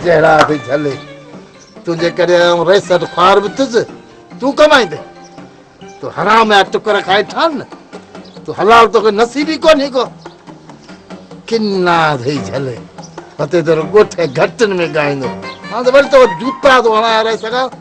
چهرا ٿي جھلي تنهنجي ڪري آئون رئيس اٽ خوار به ٿيس تون ڪمائيندي تون حرام جا ٽڪر کائي ٺان نه تون حلال توکي نصيب ئي ڪونهي ڪو ڪنا ٿي جھلي هتي تيرو ڳوٺ گھٽن ۾ ڳائيندو هاڻ ته وري تو جوتا ٿو هڻايا رئيس کان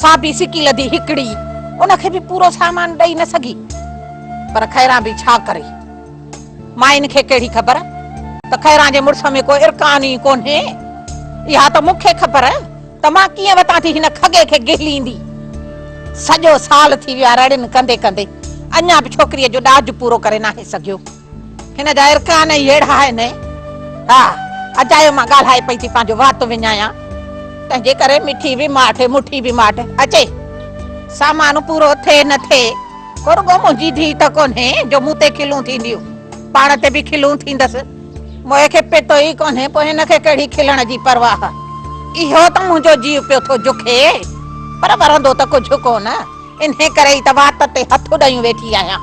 سا به سڪي لڌي هڪڙي، ان کي به پورو سامان ڏئي نه سگهي. پر خيران به ڇا ڪري؟ مائين کي ڪهڙي خبر ته خيران جي مڙس ۾ ڪو ارڪان ئي ڪونهي. اها ته مون کي خبر ته مان ڪيئن وتان ٿي هن کڳي کي گهليندي. سڄو سال ٿي ويو آهي رڙين ڪندي ڪندي، اڃا به ڇوڪريء جو ڏاج پورو ڪري ناهي سگهيو. هن جا ارڪان ئي اهڙا آهن. ها، اجايو مان ڳالهائي پئي ٿي پنهنجو وات وڃايان، تنهنجي ڪري مٺي به ماٺ، مٺي به ماٺ اچي. سامان پورو ٿئي نه ٿئي، ڪو رڳو منهنجي ڌيء ته ڪونهي جو مون تي کلون ٿينديون، پاڻ تي به کلون ٿيندس. موئي کي پتو ئي ڪونهي، پوء هن کي ڪهڙي کلڻ جي پرواهه. اهو ته منهنجو جيء پيو ٿو جکي، پر ورندو ته ڪجهه ڪونه، انهيء ڪري ئي ته وات تي هٿ اڏايون ويٺي آهيان.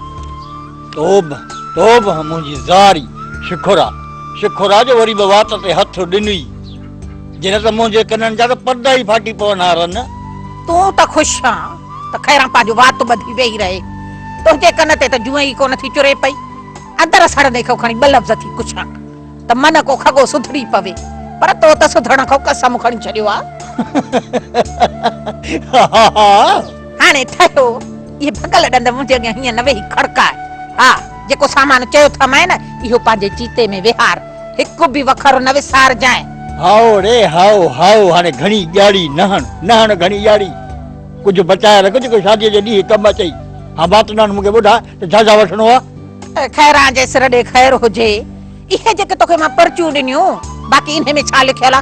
توبھ توبھ منهنجي زاري شڪر آ شڪر آ جو وري به وات تي هٿ ڏنئي جي نه ته منهنجي ڪنن جا ته پردا ئي ڦاٽي پون ها رن. تون ته خوش آن ته خيران پنهنجو وات ٻڌي ويهي رهي تنهنجي ڪن تي ته جونء ئي ڪونه ٿي چري پئي اندر سڙندي کي کڻي ٻه لفظ ٿي پڇان ته من ڪو کڳو سڌري پوي. پر تو ته سڌرڻ کان قسم کڻي ڇڏيو آ. هاهاها. هاڻي ٺهيو. اهي ڀڳل ڏند منهنجي اڳيان هيئن نه ويهي کڙڪاء. ها، جيڪو سامان چيو ٿا مئين، اهو پنهنجي چيتي ۾ ويهار. هڪ به وکر نه وسارجانء. هائو ري هائو، هائو، هاڻي گهڻي ڄاڙي نه هڻ. نه هڻ گهڻي ڄاڙي. ڪجهه بچائي رک، جيڪو شاديء جي ڏينهن ڪم اچئي. هان، باتنان مون کي ٻڌاء ته جهازا وٺڻو آ؟ خيران جي سر ڏي خير هجي. اهي جيڪي توکي مان پرچيون ڏنيون. باقي انهي ۾ ڇا لکيل آ؟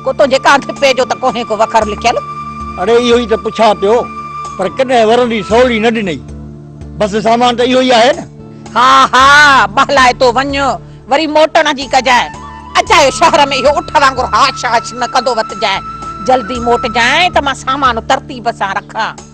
ڪو تنهنجي ڪانڌپي جو ته ڪونهي ڪو وکر لکيل؟ اڙي اهو ئي ته پڇان پيو. پر ڪڏهن ورندي سولي نه ڏنئي. بس سامان ته اهو ئي آهي نه؟ ها ها ٻهلائي تو وڃ. وري موٽڻ جي ڪجانء. اجايو شهر ۾ اهو اٺ وانگر هاش هاش نه ڪندو وتجانء. جلدي موٽجانء ته مان سامان ترتيب سان رکان.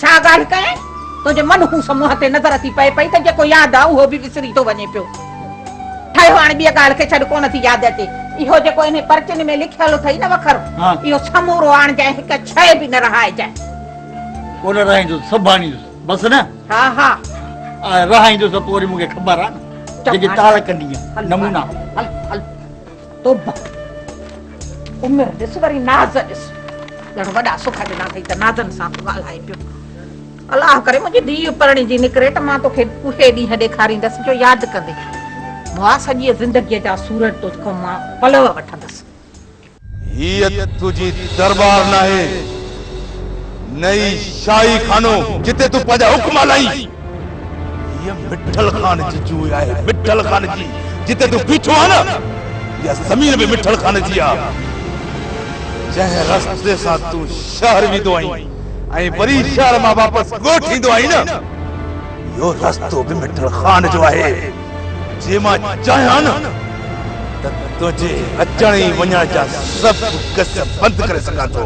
ڇا ڳالهه ڪيائين؟ تنهنجي منحوس منهن تي نظر اچي پئي پئي ته جيڪو ياد آ اهو به وسري ٿو وڃي پيو. ٺهيو هاڻي ٻيء ڳالهه کي ڇڏ ڪونه ٿي ياد اچي. اهو جيڪو انهي پرچين ۾ لکيل اٿئي نه وکر اهو سمورو آڻجانء هڪ شيء به نه رهائجانء. ڪونه رهائيندس سڀ آڻيندس بس نه؟ ها ها. آء رهائيندس ته پوء وري مون کي خبر آ نه جيڪي تعلقن جي نمونا. هل هل. توبه عمر ڏس وري ناز ڏس ڄڻ وڏا سک ڏنا اٿئي ته نازن سان ٿو ڳالهائي پيو الله ڪري منهنجي ڌيء پرڻي جي نڪري ته مان توکي اهي ڏينهن ڏيکاريندس جو ياد ڪندي موا سڄي زندگيء جا سورج تو کان مان پلو وٺندس هيء تنهنجي درٻار ناهي نه ئي شاهي خانو جتي تون پنهنجا حڪم هلائين. هيء مٺل خان جي جوء آهي، مٺل خان جي. جتي تون بيٺو آهين نه، اها زمين به مٺل خان جي آهي. جنهن رستي سان تون شهر ويندو آهين ۽ وري شهر مان واپس ڳوٺ ايندو آهين نه، اهو رستو به مٺل خان جو آهي. جي مان چاهيان نه ته تنهنجي اچڻ ۽ وڃڻ جا سڀ قصه بند ڪري سگهان ٿو.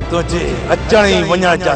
تنهنجي اچڻ ۽ وڃڻ جا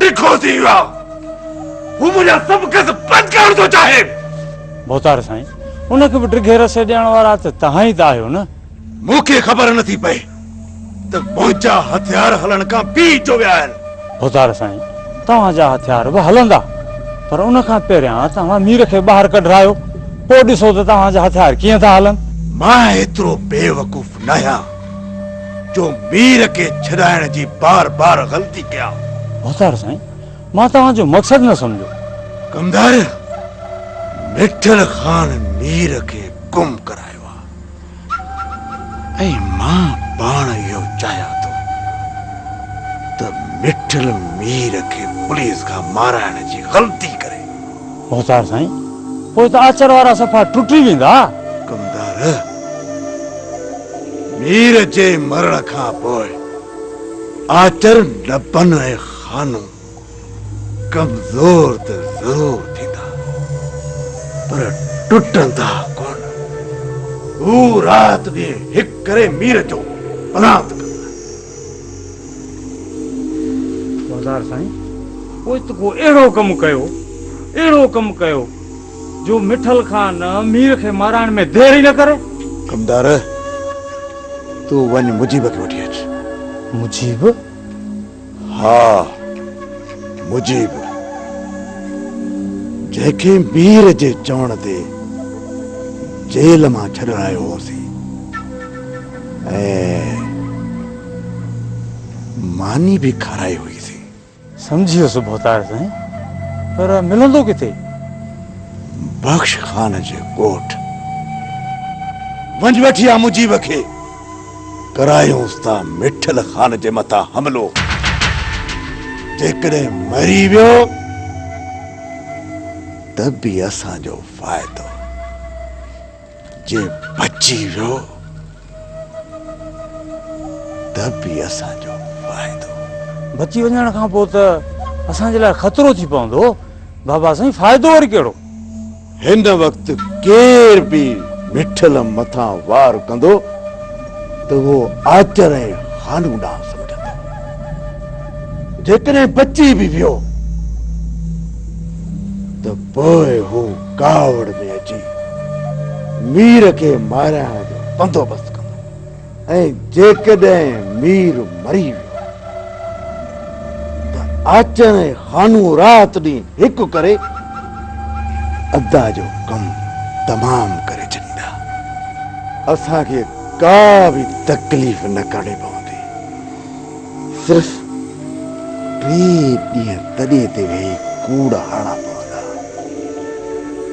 ڊگهو ٿي ويو آهي. هو منهنجا سڀ قرض بند ڪرڻ ٿو چاهي. ڀوتار سائين، ان کي به ڊگهي رسي ڏيڻ وارا ته توهان ئي ته آهيو نه؟ مون کي خبر نه ٿي پئي ته منهنجا هٿيار هلڻ کان پي جو ويا آهن. ڀوتار سائين، توهان جا هٿيار به هلندا، پر ان کان پهريان توهان مير کي ٻاهر ڪڍرايو، پوء ڏسو ته توهان جا هٿيار ڪيئن ٿا هلن. مان ايترو بيوقوف ناهيان. جو مير کي ڇڏائڻ جي بار بار غلطي ڪيان. ڀتار سائين مان توهان جو مقصد نه سمجهيو. ڪمدار مٺل خان مير کي گم ڪرايو آ ۽ مان پاڻ اهو چاهيان ٿو ته مٺل مير کي پوليس کان مارائڻ جي غلطي ڪري. مختار سائين پوء ته آچر وارا صفا ٽٽي ويندا. ڪمدار مير جي مرڻ کان پوء آچر نبن ۽ خانو ڪمزور ته ضرور ٿيندا پر ٽٽندا ڪونه. هو رات ڏينهن هڪ ڪري مير جو پلانت ڪندا. وزار سائين پوء ته ڪو اهڙو ڪم ڪيو اهڙو ڪم ڪيو جو مٺل خان مير کي مارائڻ ۾ دير ئي نه ڪري. ڪمدار تون وڃ مجيب کي وٺي اچ. مجيب؟ ها مجيب جنهن کي مير جي چوڻ تي جيل مان ڇڏرايو هوسين. ۽ ماني به کارائي هئي سي. سمجهي ويس ڀوتار سائين، پر ملندو ڪٿي؟ بخش خان جي ڳوٺ. وڃ وٺي آ مجيب کي، ڪرايونس ٿا مٺل خان جي مٿان حملو. جيڪڏهن مري ويو ته به اسان جو فائدو. جي بچي ويو ته به اسان جو فائدو. بچي وڃڻ کان پوء ته اسان جي لاء خطرو ٿي پوندو. بابا سائين فائدو وري ڪهڙو؟ هن وقت ڪير به مٺل مٿان وار ڪندو ته اهو آچر ۽ هانو ڏانهن سمجهندو. جيڪڏهن بچي به ويو ته پوء هو. ڪاوڙ ۾ اچي مير کي مارائڻ جو بندوبست ڪندو ۽ جيڪڏهن مير مري ويو ته آچر ۽ خانو رات ڏينهن هڪ ڪري ادا جو ڪم تمام ڪري ڇڏيندا اسان کي ڪا به تڪليف نه ڪرڻي پوندي. صرف ٽي ڏينهن تڏي تي ويهي ڪوڙ هڻڻا پوندا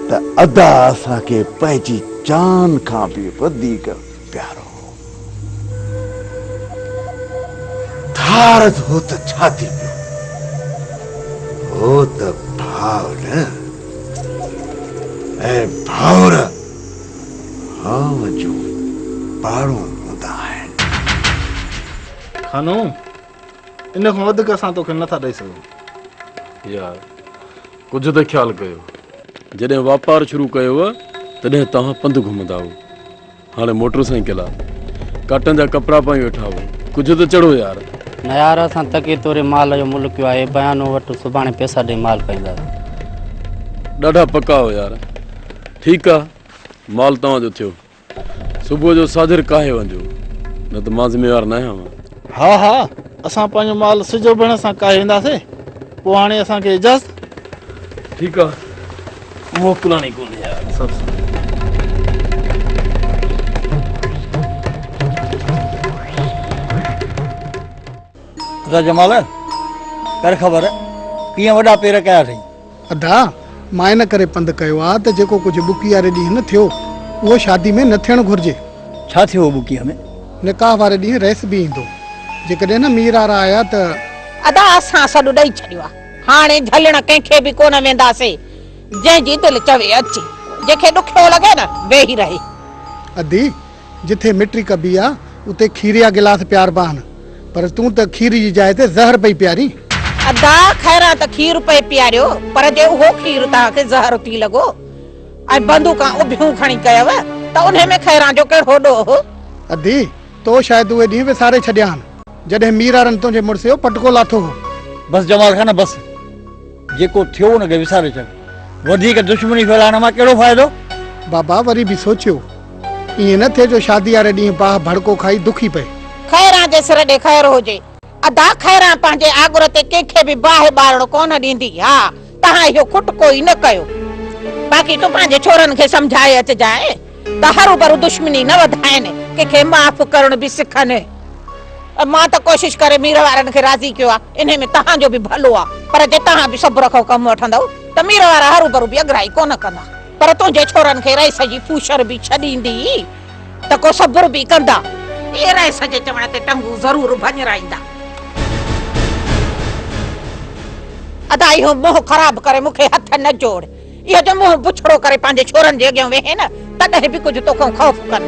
ته ادا اسان کي پنهنجي جان کان به وڌيڪ پيارو هو. ڌارد هو ته ڇا ٿي پيو هو ته ڀاء نه ۽ ڀائر هانء جون پاڙون هوندا آهن. خانو! ان کان وڌيڪ اسان توکي نه ٿا ڏئي سگهون. يار! ڪجهه ته خيال ڪيو. جڏهن واپار شروع ڪيو هو تڏهن توهان پنڌ گهمندا هئو. هاڻي موٽر سائيڪل آ. ڪاٽن جا ڪپڙا پائي ويٺا هئو. ڪجهه ته چڙهو يار! نه يار! اسان تڪي توري مال جو ملڪ ڪيو آهي. بيانو وٺ سڀاڻي پيسا ڏئي مال پائينداسين. ڏاڍا پڪا هئو يار! ٺيڪ آ. مال توهان جو ٿيو. صبح جو ساجھر ڪاهي وڃجو، نه ته مان ذميوار ناهيان ها. ها ها، اسان پنهنجو مال سج اڀرڻ سان ڪاهي وينداسين. پوء هاڻي اسان کي اجازت. ٺيڪ آ، موڪلڻي ڪونهي يار. ادا جمال، ڪر خبر، ڪيئن وڏا پير ڪيا اٿئي؟ ادا، مان ان ڪري پنڌ ڪيو آ ته جيڪو ڪجهه ٻڪي واري ڏينهن ٿيو، اهو شادي ۾ نه ٿيڻ گهرجي. ڇا ٿيو هو ٻڪي ۾؟ نڪاح واري ڏينهن رئيس به ايندو. جيڪڏهن نه مير وارا آيا ته. ادا، اسان سڏ ڏئي ڇڏيو آ. هاڻي جهلڻ ڪنهن کي به ڪونه وينداسين. جنهن جي دل چوي اچي. جنهن کي ڏکيو لڳي نه، ويهي رهي. ادي، جتي مٽي ڪبي آ اتي کير جا گلاس پياربان پر تون ته کير جي جاء تي زهر پئي پيارين. ادا خيران ته کير پئي پياريو پر جي اهو کير توهان کي زهر ٿي لڳو ۽ بندوقان اڀيون کڻي ڪيو ته انهي ۾ خيران جو ڪهڙو ڏوهه هو. ادي تو شايد اهي ڏينهن وساري ڇڏيا آهن جڏهن ميرارن تنهنجي مڙس جو پٽڪو لاٿو هو. بس جمال خان بس. جيڪو ٿيو ان کي وساري ڇڏ. وڌيڪ دشمني ڦهلائڻ مان ڪهڙو فائدو؟ بابا وري به سوچيو. ائين نه ٿئي جو شادي واري ڏينهن باهه ڀڙڪو کائي دکي پئي. خيران جي سر ڏي خير هجي. ادا خيران پنهنجي آڳر تي ڪنهن کي به باهه ٻارڻ ڪونه ڏيندي. ها توهان اهو کٽڪو ئي نه ڪيو. باقي تون پنهنجي ڇورن کي سمجهائي اچجانء. ته هروڀرو دشمني نه وڌائين، ڪنهن کي معاف ڪرڻ به سکن. مان ته ڪوشش ڪري مير وارن کي راضي ڪيو آ، انهيء ۾ توهان جو به ڀلو آ، پر جي توهان به صبر کان ڪم وٺندؤ ته مير وارا هروڀرو به اڳرائي ڪونه ڪندا، پر تنهنجي ڇورن کي رئيس جي پوشر به ڇڏيندي ته ڪو صبر به ڪندا. اهي رئيس جي چوڻ تي ٽنگون ضرور ڀڃرائيندا. ادا اهو منهن خراب ڪري مون کي هٿ نه جوڙ. اهي ته منهن بڇڙو ڪري پنهنجي ڇورن جي اڳيان ويهين تڏهن به ڪجهه تو کان خوف ڪن.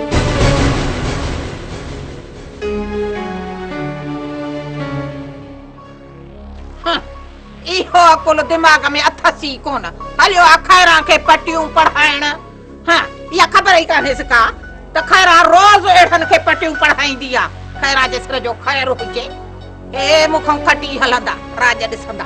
اهو عقل دماغ ۾ اٿس ئي ڪونه. هليو آ خيران کي پٽيون پڙهائڻ. ها اها خبر ئي ڪانهيس ڪا ته خيران روز اهڙن کي پٽيون پڙهائيندي آ. خيران جي سر جو خير هجي. هي مون کان کٽي هلندا، راڄ ڏسندا.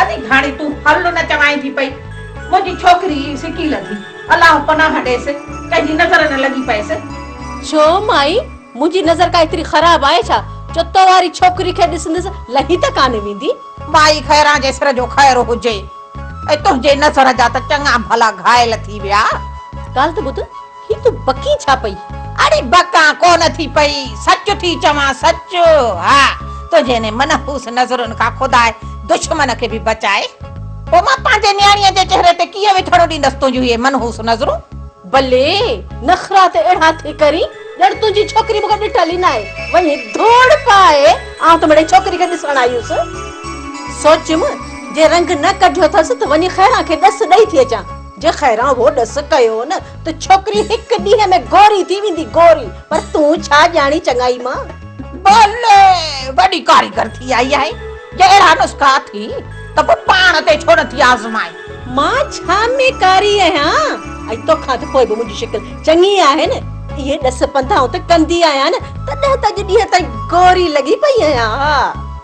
ادي گهاڻي تون هل نه چوائين ٿي پئي منهنجي ڇوڪري ئي سڪي لڌي الله پناهه ڏيس ڪنهن جي نظر نه لڳي پئيس. ڇو مائي منهنجي نظر ڪا ايتري خراب آهي ڇا جو تو واري ڇوڪري کي ڏسندس لهي ته ڪانه ويندي. مائي خيران جي سر جو خير هجي ۽ تنهنجي نظر جا ته چڱا ڀلا گهائل ٿي ويا. ڳالهه ته ٻڌ هي تون بڪين ڇا پئي؟ اڙي بڪان ڪونه ٿي پئي، سچ ٿي چوان، سچ. ها، تنهنجي انهي منحوس نظرن کان خدا دشمن کي به بچائي. پوء مان پنهنجي نياڻيء جي چهري تي ڪيئن ويٺاڻو ڏيندس تنهنجون اهي منحوس نظرون؟ بلي، نخرا ته اهڙا ٿي ڪرين، ڄڻ تنهنجي ڇوڪري مون کان ڏٺل ئي ناهي. وڃي ڌوڙ پائي، آئون ته مڙئي ڇوڪري کي ڏسڻ آئي هيس. سوچيم، جي رنگ نه ڪڍيو اٿس ته وڃي خيران کي ڏس ڏئي ٿي اچان. جي خيران اهو ڏس ڪيو نه ته ڇوڪري هڪ ڏينهن ۾ گوري ٿي ويندي گوري پر تون ڇا ڄاڻين چڱائي مان. بلي وڏي ڪاريگر ٿي آئي آهي جي اهڙا نسخا اٿئي ته پوء پاڻ تي ڇو نٿي آزمائين. مان ڇا ۾ ڪاري آهيان ۽ توکان ته پوء به منهنجي شڪل چڱي آهي نه اهي ڏس پنڌائون ته ڪندي آهيان نه تڏهن ته اڄ ڏينهن تائين گوري لڳي پئي آهيان ها.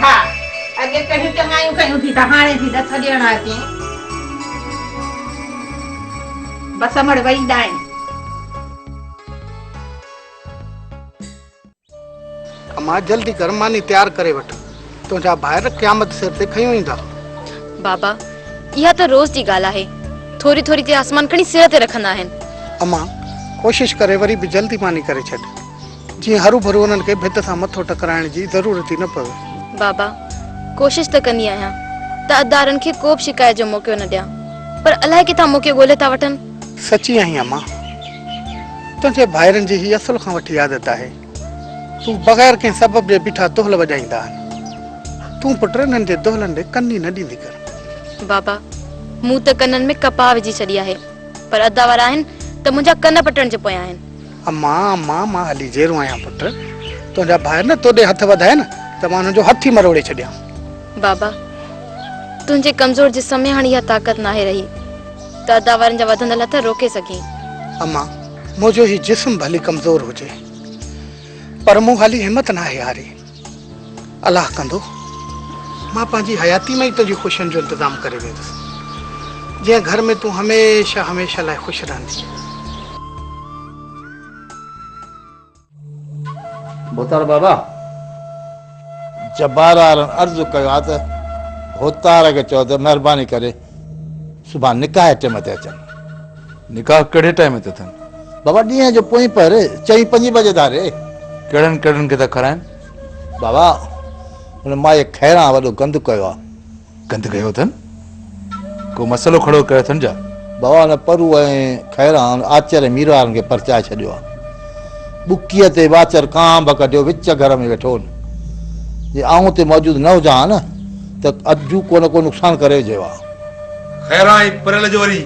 ها اڳي ڪهڙيون چڱايون ڪيون ٿي ته هاڻي ٿي ڏٿ ڏيڻ اچين. بس امڙ وئي ڏائين. امان جلدي ڪر ماني تيار ڪري وٺ تنهنجا ڀائر قيامت سر تي کنيون ايندا. بابا اها ته روز جي ڳالهه آهي ٿوري ٿوري تي آسمان کڻي سر تي رکندا آهن. امان ڪوشش ڪري وري به جلدي ماني ڪري ڇڏ. جيئن هروڀرو انهن کي ڀت سان مٿو ٽڪرائڻ جي ضرورت ئي نه پوي. بابا، ڪوشش ته ڪندي آهيان ته ادارن کي ڪوبه شڪايت جو موقعو نه ڏيان، پر الائي ڪٿان موقعو ڳولهي ٿا وٺن. سچي آهين اما، تنهنجي ڀائرن جي هي اصل کان وٺي عادت آهي، تون بغير ڪنهن سبب جي بيٺا دهل وڄائيندا آهن. تون پٽ انهن جي دهلن ڏي ڪن ئي نه ڏيندي ڪر. بابا، مون ته ڪنن ۾ ڪپاهه وجهي ڇڏي آهي، پر ادا وارا آهن ته منهنجا ڪن پٽڻ جي پويان آهن. اما، اما، مان علي جيرو آهيان پٽ. تنهنجا ڀائر نه توڏي هٿ وڌائين ته مان انهن جو هٿ ئي مروڙي ڇڏيان. بابا، تنهنجي ڪمزور جسم ۾ هاڻي اها طاقت ناهي رهي ته ادا وارن جا وڌندل هٿ روڪي سگهين. اما، منهنجو هي جسم ڀلي ڪمزور هجي پر مون هالي همت ناهي هاري. الله ڪندو، مان پنهنجي حياتي ۾ ئي تنهنجي خوشين جو انتظام ڪري ويندس، جنهن گهر ۾ تون هميشه هميشه لاء خوش رهندينء. ڀوتار بابا، جبارارن عرض ڪيو ها ته ڀوتار کي چئو ته مهرباني ڪري صبح نڪاح جي ٽيم تي اچن. نڪاح ڪهڙي ٽيم تي اٿن؟ بابا ڏينهن جو پوئين پهر چئين پنجين بجي ڌاري. ڪهڙن ڪهڙن کي ٿا کارائن؟ بابا ان مائي خيران وڏو گند ڪيو آ. گند ڪيو اٿن؟ ڪو مسئلو کڙو ڪيو اٿن جا؟ بابا ان پرو ۽ خيران آچر ۽ مير وارن کي پرچائي ڇڏيو آ. ٻڪيء تي واچر ڪانڀ ڪڍيو وچ گهر ۾ ويٺو هن. جي آئون اتي موجود نه هجان ها نه. ته اڌ جون ڪو نه ڪو نقصان ڪري وجهيو آ. خيران ائين پريل جو وري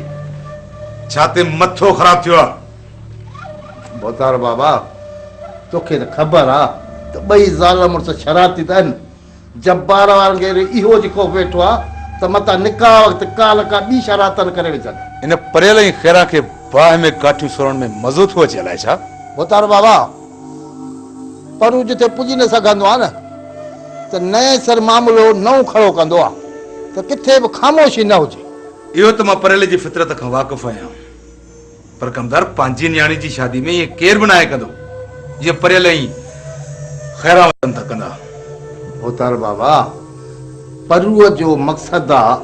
ڇاتي مٿو خراب ٿيو آ. ڀوتار بابا توکي ته خبر آ ته ٻئي زال مڙس شرارتي ته ان. جبار وارن کي وري اهو جي خوف ويٺو آ ته متان نڪاح وقت ڪا نه ڪا ٻي شرارت نه ڪري وجهن. ان پريل ۽ خيران کي باهه ۾ ڪاٺيون سرڻ ۾ مزو ٿو اچي الائي ڇا. ڀوتار بابا! پر هو جتي پڄي نه سگهندو آهي نه ته نئين سر معاملو نئون کڙو ڪندو آهي ته ڪٿي به خاموشي نه هجي. اهو ته مان پريلي جي فطرت کان واقف آهيان پر ڪمدار پنهنجي نياڻي جي شادي ۾ ائين ڪير به ناهي ڪندو جيئن پريل ائين خيران وتن ٿا ڪندا. هوتار بابا پروء جو مقصد آهي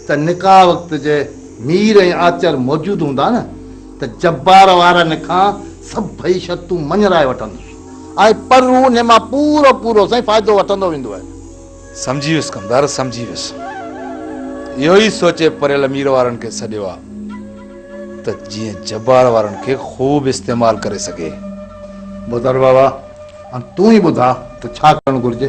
ته نڪاح وقت جي مير ۽ آچر موجود هوندا نه ته جبار وارا نکان سڀئي شرطون مڃرائي وٺندس ۽ پرون انهي مان پورو پورو سائين فائدو وٺندو ويندو آهي. سمجهي ويس ڪمدار سمجهي ويس. اهو ئي سوچي پريل مير وارن کي سڏيو آ ته جيئن جبار وارن کي خوب استعمال ڪري سگهي. بوتار بابا هاڻ تون ئي ٻڌاء ته ڇا ڪرڻ گهرجي.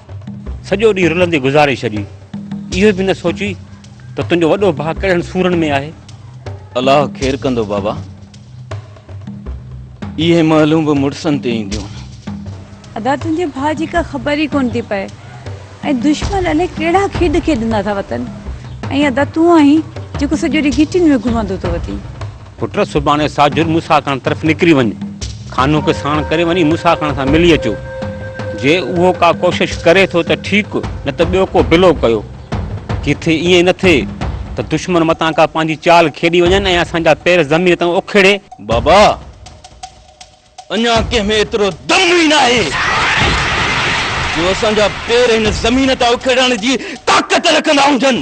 سڄو ڏينهن رلندي گذاري ڇڏي. اهو به نه سوچي ته تنهنجو وڏو ڀاء ڪهڙن سورن ۾ آهي. الله خير ڪندو بابا. اهي مئلون به مڙسن تي اينديون. ادا تنهنجي ڀاء جي ڪا خبر ئي ڪونه ٿي پئي ۽ دشمن الائي ڪهڙا کيڏ کيڏندا ٿا وتن ۽ ادا تون آهين جيڪو سڄو ڏينهن گهٽين ۾ گهمندو ٿو وتين. پٽ سڀاڻي ساجھر موسيٰ خان طرف نڪري وڃ، خانو کي ساڻ ڪري وڃي موسيٰ خان سان ملي اچو. جي اهو ڪا ڪوشش ڪري ٿو ته ٺيڪ نه ته ٻيو ڪو بلو ڪيو. ڪٿي ائين نه ٿئي ته دشمن متان ڪا پنهنجي چال کيڏي وڃن ۽ اسان جا پير زمين تان اکيڙي. بابا! اڃا ڪنهن ۾ ايترو دم ئي ناهي جو اسان جا پير هن زمين تان اکيڙڻ جي طاقت رکندا هجن.